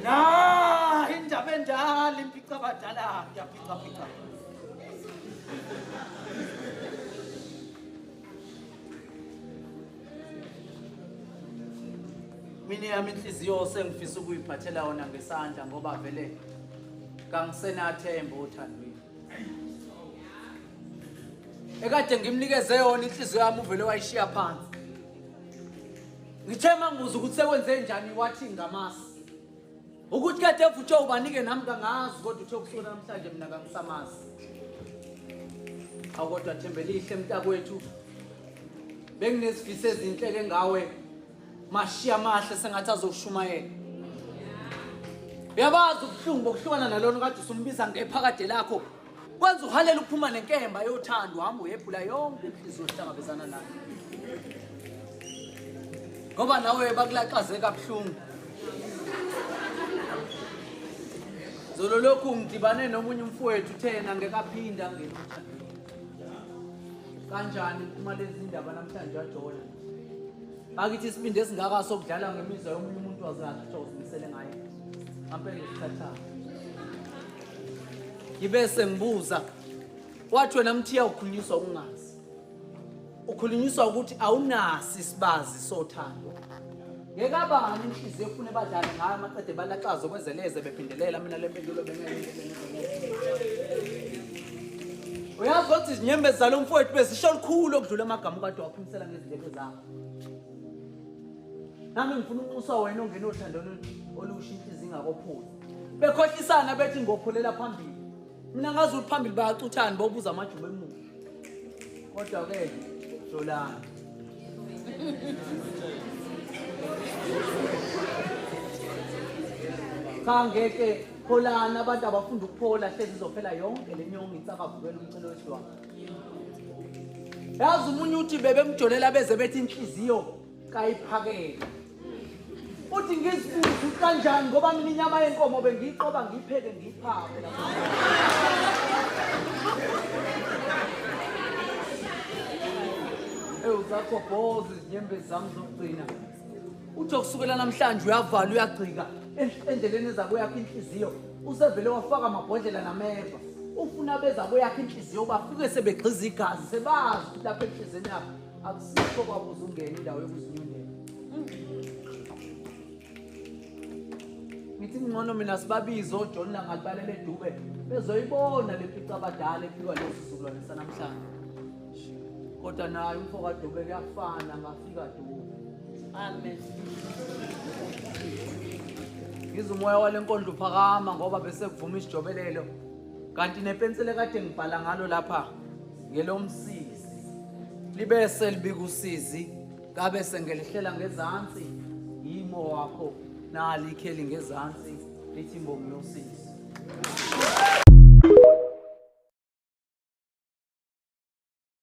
Na indaba endala impica abadala yaphica phica. Mina yami inhliziyo sengifisa ukuyiphathela yona ngesandla ngoba vele kangisenathemba othandweni. ekade ngimnikeze yona inhliziyo yami uvele wayishiya phansi ngithe mangibuza ukuthi sekwenze njani wathi ngamasi ukuthi kade evutshwe ubanike nami kangazi kodwa uthe kusuka namhlanje mina kangisamazi awu kodwa thembelihle mntakwethu benginezifiso ezinhle ke ngawe Mashi amahle sengathi azoshumayela. Uyabazi ubuhlungu bokuhlukana nalona kade usumbiza ngephakade lakho. Kwenza uhalela ukuphuma nenkemba yothando hamba uyephula yonke inhliziyo ohlangabezana nayo. Ngoba nawe bakulaxaze kabuhlungu. Zolo lokhu ngidibane nomunye umfowethu thena ngekaphinda ngena. Kanjani uma lezi ndaba namhlanje wajola? bakithi isibindi esingaka sokudlala ngemizwa yomunye umuntu wazakhe kuthiwa uzimisele ngayo ampela ukuthathana ngibe sengibuza wathi wena mthiya ukhulunyiswa ukungazi ukhulunyiswa ukuthi awunasi isibazi sothando Ngekabani inhliziyo efune badlale ngayo amaqede balaxaza okwezeleze bephindelela mina le mpendulo uyazi ukuthi izinyembezi zalo mfowethu bezisho lukhulu okudlula amagama ukade waphimisela ngezindlebe zakho nami ngifuna unxusa wena ongena othando olusha inhliziyo ingakophula bekhohlisana bethi ngophulela phambili mina ngazi ukuthi phambili bayacuthani bobuza amajuba emuva kodwa ke solani cha ngeke pholani abantu abafunda ukuphola hlezi izophela yonke le nyongo itsakavukela umcelo wesidwanga yazi umunye uthi bebemjolela beze bethi inhliziyo kayiphakele uthi ngizifuze ukuthi kanjani ngoba mina inyama yenkomo bengiyiqoba ngiyipheke ngiyiphake ewu zakho boze izinyembezi zami zokugcina uthi okusukela namhlanje uyavala uyagcika endleleni ezabo yakhe inhliziyo usevele wafaka amabhodlela nameva ufuna bezabo yakhe inhliziyo bafike sebegxiza igazi sebazi ukuthi lapha enhliziyweni yakhe akusikho kwabo uzungena indawo yokuzinyundela ngithi ngcono mina sibabize ojohn langalibalele edube bezoyibona le pica abadala ephikwa lesi sizukulwane sanamhlanje kodwa naye umfo kadube kuyafana ngafika dube amen ngize umoya wale nkondlo uphakama ngoba bese kuvuma isijobelelo kanti nepensile kade ngibhala ngalo lapha ngelomsizi libese libika usizi kabe sengelihlela ngezansi yimo wakho nali ikheli ngezansi lithi mbongi yosizi